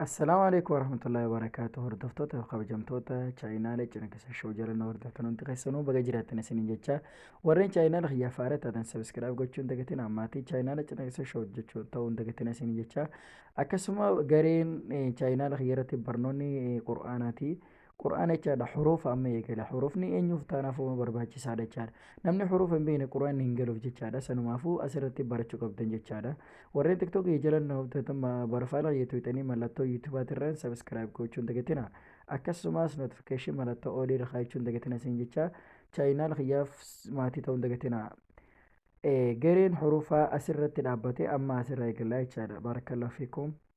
Assalaamu alaikum warahmatullahi wabarakatuh hordoftoota fi kabajamtoota chaayinaala cinankisa show jalannoo hordoftan hundi keessanuu baga jiraattan isiniin jecha warreen chaayinaala kiyyaaf haara taatan sabiskiraayib gochuun dagatiin ammaatii chaayinaala cinankisa show jechuun ta'uun dagatiin isiniin jecha akkasuma gareen chaayinaala kiyya irratti barnoonni qur'aanaati Qur'aana jechaadha huruufa amma eegala. Huruufni eenyuuf taanaaf uuma barbaachisaadha jechaadha. Namni huruufa hin beekne qur'aanni hin galuuf jechaadha. Sanumaafuu asirratti barachuu qabdan jechaadha. Warreen tiktookii jalan barfaala yetuuxanii mallattoo yuutuubaatirraan sabiskiraayib gochuun dagatina. Akkasumas notifikashin mallattoo olii irra kaayachuun dagatina isin jecha chaayinaal kiyyaaf maatii ta'uun dagatina. Gareen huruufaa asirratti dhaabbate amma asirraa eegallaa jechaadha. Baarakkallahu fiikum.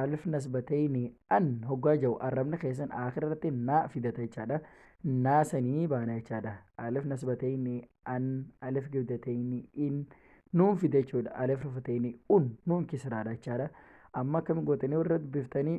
alif nasbatayni an hoggaa jau arrabni keessan aakhira irratti naa fidata jechaadha naa sanii baana jechaadha alif nasbatayni an alif gibdatayni in nuun fide jechuudha alif rufatayni un nuun kisraadha jechaadha amma akkami gootanii warra dubbiftanii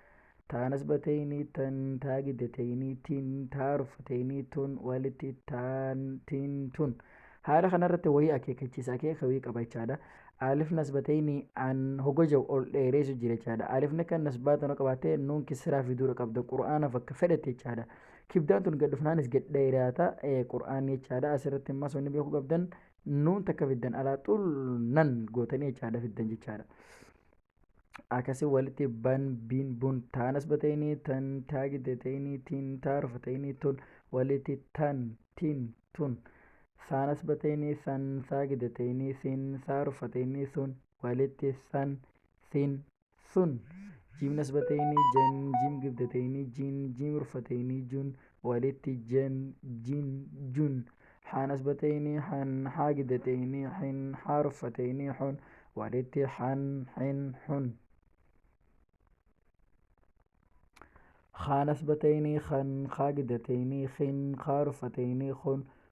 Taanas bateeyni tan taa giddateeyni tin taa ruffateeyni tun walitti taan tin tun. Haala kanarratti wayii akeekachiisa akeeka wayii qaba jechaadha. Alif nasbateeyni an hoga jau ol dheereessu jira jechaadha. Alifni kan nasbaa tana qabaattee nuun kisiraa fiduudha qabda qur'aanaaf akka fedhatti jechaadha. Kibdaan tun gad dhufnaanis gad dheeraata qur'aanni jechaadha. Asirratti immas wanni beekuu qabdan nuun takka fiddan alaa xul nan gootanii jechaadha fiddan jechaadha. akkasi walitti ban bin bun taa nasbatayni tan taa giddatayni tin taa rufatayni tun walitti tan tin tun saa nasbatayni san saa giddatayni sin saa rufatayni sun walitti san sin sun jiim nasbatayni jan jiim giddatayni jin jiim rufatayni jun walitti jem jin jun haan asbateyni han haa gidateyni hin haa ruffateyni hun walitti han hin hun haan asbateyni han haa gidateyni hin haa ruffateyni hun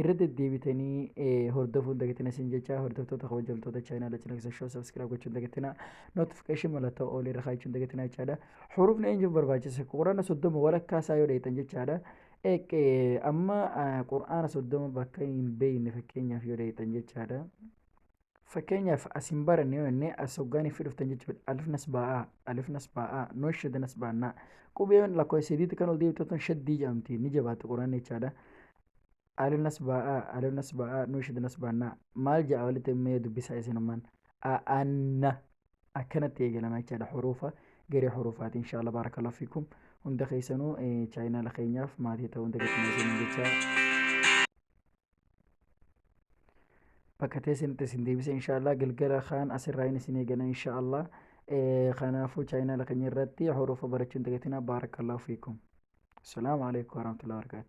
irra deddeebitanii eh, hordofuu hin dagatina isin jecha hordoftoota kabajamtoota chaayinaala cinaaksa shoo sabskiraayib gochuu hin dagatina notifikashin mallattoo oolii irra kaa'achuu hin dagatina jechaadha hurufni eenyuuf barbaachisa quraana soddoma walakkaa isaa yoo dheeytan jechaadha Eq- eh, amma ah, quraana soddoma bakka hin beeyne fakkeenyaaf yoo dheeytan jechaadha Fakkeenyaaf as hin baranne yoo jennee as hoggaan fi dhuftan jechuudha. Alif nasbaa'aa, alif nasbaa'aa, nuun shadda nasbaannaa. Qubeen lakkoofsa sadiitti kan ol deebitatan shaddii jedhamti. Ni jabaatti quraan jechaadha. Alif nasbaa'aa, alif nasbaa'aa, nuun shadda nasbaannaa. Maal ja'a walitti mee dubbisaa isinummaan. Aanna akkanatti eegalama jechaadha huruufa garee huruufaati inshaallah baarakallahu fiikum hunda keessanuu chaayinaala keenyaaf maatii ta'uu hunda keessanuu jecha bakka teessanitti isin deebisa inshaallah galgala kaan asirraa hin isin eegana inshaallah kanaafuu chaayinaala keenya irratti horofa barachuun dagatina baarakallahu fiikum asalaamu alaikum warahmatullahi wabarakatuh